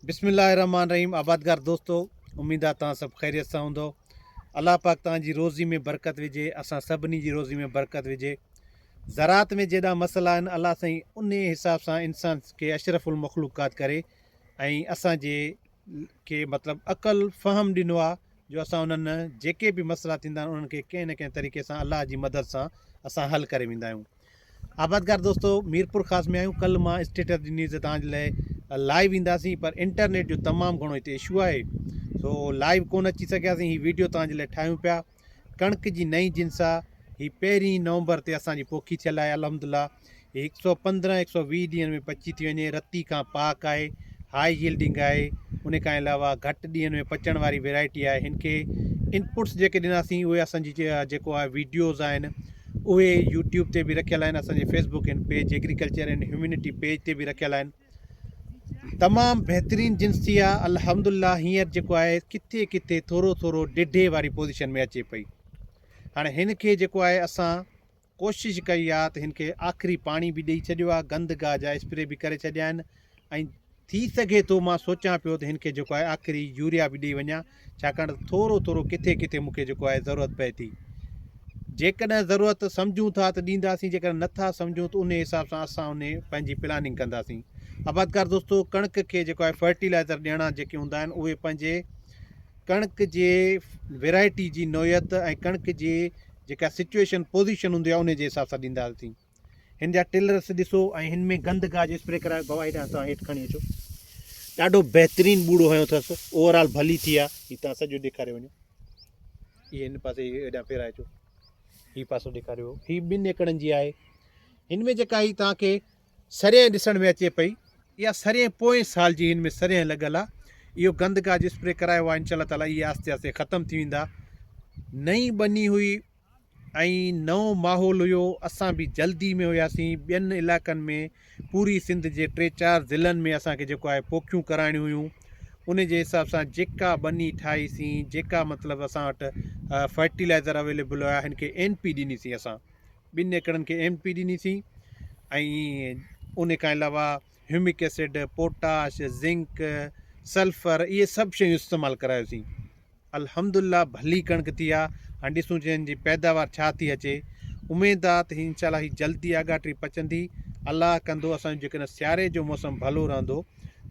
بسم الله الرحمن الرحيم آبادگار دوستو اميد آ تان سڀ خيريت سان هوندو الله پاڪ تان جي روزي ۾ برڪت وجهي اسان سڀني جي روزي ۾ برڪت وجهي زراعت ۾ جيڏا مسئلا آهن الله سائين ان حساب سان انسان کي اشرف المخلوقات ڪري ۽ اسان جي کي مطلب عقل فهم ڏنو آ جو اسان انهن جيڪي به مسئلا ٿيندا آهن انهن کي ڪنهن نه ڪنهن طريقي سان الله جي مدد سان اسان حل ڪري ويندا آهيون آبادگار دوستو ميرپورخاص ۾ آهيون ڪل مان اسٽيٽس ڏني ته تان لئي لائيو اينداسين پر انٽرنيٽ جو تمام گھڻو هتي اشو آهي سو لائيو ڪون اچي سگھياسين هي ويڊيو تان لئي ٺاهيون پيا ڪڻڪ جي نئين جنس آ هي پهرين نومبر تي اسان جي پوکي ٿيل آهي الحمدلله هي 115 120 ڏينهن ۾ پچي ٿي وڃي رتي کان پاڪ آهي هاء ييلڊنگ آهي ان کان علاوه گھٽ ڏينهن ۾ پچڻ واري ويرائٽي آهي هن کي انپٽس جيڪي ڏناسين اهي اسان جي جيڪو آهي ويڊيوز آهن اهي يوٽيوب تي به رکيل آهن اسان جي فيس بڪ ان پيج ايگريڪلچر ان هيومينٽي پيج تي به رکيل آهن تمام بهترين جنس ٿي آ الحمدلله هينئر جيڪو آهي ڪٿي ڪٿي ٿورو ٿورو ڊيڍي واري پوزيشن ۾ اچي پئي هاڻي هن کي جيڪو آهي اسان ڪوشش ڪئي آ ته هن کي آخري پاڻي به ڏيئي ڇڏيو آ گند گاهه جا اسپري به ڪري ڇڏيا آهن ۽ ٿي سگهي ٿو مان سوچيان پيو ته هن کي جيڪو آهي آخري يوريا به ڏئي وڃان ڇاڪاڻ ته ٿورو ٿورو ڪٿي ڪٿي مون کي جيڪو آهي ضرورت پئي ٿي جيڪڏهن ضرورت سمجهون ٿا ته ڏينداسين جيڪڏهن نٿا سمجهون ته ان حساب سان اسان ان پنهنجي پلاننگ ڪنداسين آبادگار دوستو ڪڻڪ کي جيڪو آهي فرٽيلائزر ڏيڻا جيڪي هوندا آهن اهي پنهنجي ڪڻڪ جي ويرائٽي جي نوعيت ۽ ڪڻڪ جي جيڪا سچويشن پوزيشن هوندي آهي ان جي حساب سان ڏينداسين هن جا ٽيلرس ڏسو ۽ هن ۾ گند گاهه جو اسپري ڪرائي بوا هيڏا هٿان هيٺ کڻي اچو ڏاڍو بهترين ٻوڙو هنيو اٿس اوورآل ڀلي ٿي آ هي تان سڄو ڏيکاري وڃو هي هن پاسي هيڏا ڦيرائي اچو هي پاسو ڏيکاريو هي ٻن ايڪڙن جي آهي هن ۾ جيڪا هي تان کي سرين ڏسڻ ۾ اچي پئي اها سرين پوئين سال جي هن ۾ سرين لڳل آ اهو گند گاهه جو اسپري ڪرايو آ انشاءالله تعاليٰ اهي آهستي آهستي ختم ٿي ويندا نئين ٻني هئي ۽ نئون ماحول هيو اسان به جلدي ۾ هياسين ٻين علائقن ۾ پوري سنڌ جي ٽي چار ضلعن ۾ اسان کي جيڪو آهي پوکيون ڪرائڻيون هيون ان جي حساب سان جيڪا ٻني ٺاهي سين جيڪا مطلب اسان وٽ فرٽيلائزر اويليبل هيا هن کي اين پي ڏني سين اسان ٻن ايڪڙن کي اين پي ڏني سين ۽ ان کان علاوه humic acid potash zinc sulphur اهي سڀ شيون استعمال ڪرايوسين الحمد الله ڀلي ڪڻڪ ٿي آ هاڻي ڏسون چين جي پيداوار ڇا ٿي اچي اميد آ ته انشاء الله هي جلدي آڳاٽري پچندي الله ڪندو اسان جو جيڪڏهن سياري جو موسم ڀلو رهندو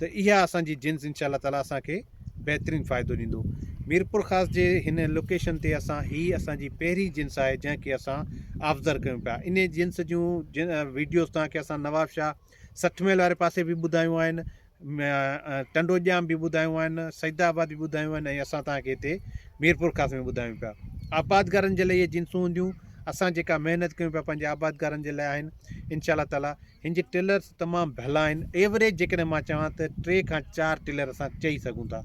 ته اها اسان جي جنس انشاء الله تعالي اسان کي بهترين فائدو ڏيندو ميرپور خاص جي هن لوڪيشن تي اسان هي اسان جي پهرين جنس آهي جنهن کي اسان آفزر ڪيون پيا ان جنس جون جن ويڊيوز تان کي اسان نواب شاهه سٺ ميل واري پاسي به ٻڌايون آهن، ٽنڊو ڄام به ٻڌايون آهن، سيد آباد به ٻڌايون آهن ۽ اسان توهان کي هتي ميرپورخاص ۾ ٻڌايون پيا. آبادگارن جي لاء اهي جنسون هونديون، اسان جيڪا محنت ڪيون پيا پنهنجي آبادگارن جي لاء آهن، انشاء الله تعاليٰ هن جي ٽلرس تمام ڀلا آهن، ايوريج جيڪڏهن مان چوان ته ٽي کان چار ٽلر اسان چئي سگهون ٿا،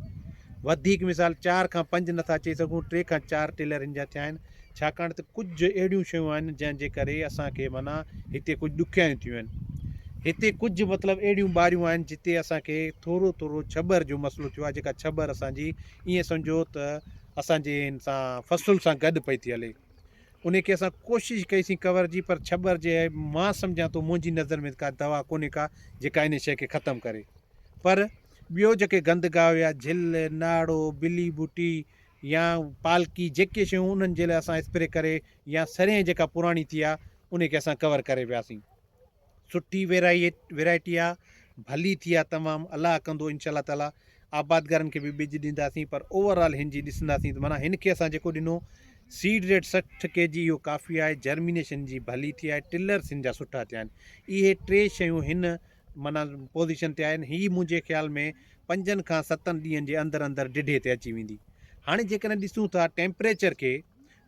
وڌيڪ مثال چار کان پنج نٿا چئي سگهون، ٽي کان چار ٽلر هن جا ٿيا آهن، ڇاڪاڻ ته ڪجهه اهڙيون شيون آهن جنهن جي ڪري اسان کي معنيٰ هتي ڪجهه ڏکيائيون ٿيون آهن هتي ڪجهه مطلب اهڙيون ٻاريون آهن جتي اسان کي ٿورو ٿورو ڇٻر جو مسئلو ٿيو آهي جيڪا ڇٻر اسان جي ائين سمجهو ته اسان جي ان سان فصل سان گڏ پئي ٿي هلي ان کي اسان ڪوشش ڪئيسين ڪور جي پر ڇٻر جي مان سمجهان ٿو منهنجي نظر ۾ ڪا دوا ڪونهي ڪا جيڪا ان شيء کي ختم ڪري پر ٻيو جيڪي گند گاهه هيا جھل ناڙو بلي بوٽي يا پالڪي جيڪي شيون انهن جي لاء اسان اسپري ڪري يا سرين جيڪا پراڻي ٿي آ انهي کي اسان ڪور ڪري وياسين سٺي ويرائٽي آ ڀلي ٿي آ تمام الله ڪندو انشاء الله تعالي آبادگارن کي به ٻج ڏينداسين پر اوور آل هن جي ڏسنداسين ته معنيٰ هن کي اسان جيڪو ڏنو سيڊ ريٽ سٺ ڪي جي اهو ڪافي آهي جرمينيشن جي ڀلي ٿي آهي ٽلرس هن جا سٺا ٿيا آهن اهي ٽي شيون هن معنيٰ پوزيشن تي آهن هي منهنجي خيال ۾ پنجن کان ستن ڏينهن جي اندر اندر ڊيڍي تي اچي ويندي هاڻي جيڪڏهن ڏسون ٿا ٽيمپريچر کي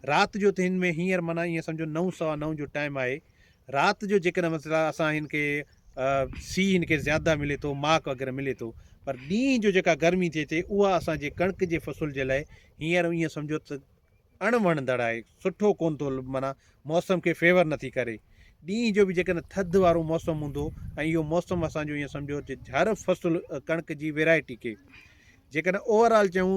رات جو ته هن ۾ هينئر معنيٰ ائين سمجهو نو سوا نو جو ٽائيم آهي رات جو جيڪڏهن مثلا اسان هن کي سي هن کي زياده ملي ٿو ماڪ وغيره ملي ٿو پر ڏينهن جو جيڪا گرمي ٿئي ٿي اها اسانجي ڪڻڪ جي فصل جي لاء هينئر ائين سمجهو ته اڻ وڻندڙ آهي سٺو ڪون ٿو معنيٰ موسم کي فيور نٿي ڪري ڏينهن جو به جيڪڏهن ٿڌ وارو موسم هوندو ۽ اهو موسم اسان جو ائين سمجهو جهر فصل ڪڻڪ جي ويرائٽي کي جيڪڏهن اوور آل چون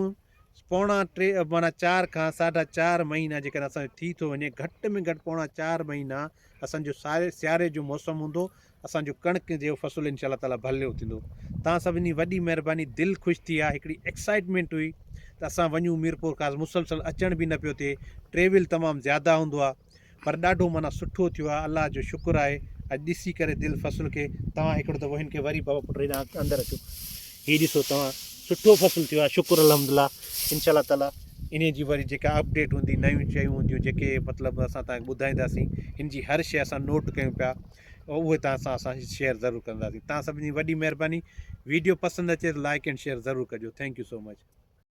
پوڻا ٽي معنيٰ چار کان ساڍا چار مهينا جيڪڏهن اسان ٿي ٿو وڃي گهٽ ۾ گهٽ پوڻا چار مهينا اسان جو ساري سياري جو موسم هوندو اسان جو ڪڻڪ جو فصل انشاء الله تعالٰي ڀليو ٿيندو تان سڀن جي وڏي مهرباني دل خوش ٿي آ هڪڙي ايڪسائيٽمينٽ هئي ته اسان وڃون ميرپور خاص مسلسل اچڻ به نه پيو ٿئي ٽريول تمام زياده هوندو آ پر ڏاڍو معنيٰ سٺو ٿيو آ الله جو شڪر آهي اڄ ڏسي ڪري دل فصل کي توهان هڪڙو دفعو هن کي وري بابا پٽ هيڏانهن اندر اچو هي ڏسو توهان سٺو فصل ٿيو آهي شڪر الحمد الله انشاء الله تعالٰي انهي جي وري جيڪا اپڊيٽ هوندي نيون شيون هونديون جيڪي مطلب اسان تان ٻڌائينداسين هن جي هر شيء اسان نوٽ ڪيون پيا اهي تان سان اسان شيئر ضرور ڪنداسين تان سڀني وڏي مهرباني ويڊيو پسند اچي ته لائڪ اينڊ شيئر ضرور ڪجو ٿينڪ يو سو مچ